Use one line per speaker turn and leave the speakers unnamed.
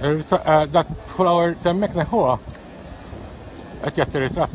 Eh, dak flower temmek neħuha. Qed jagħti ritratt.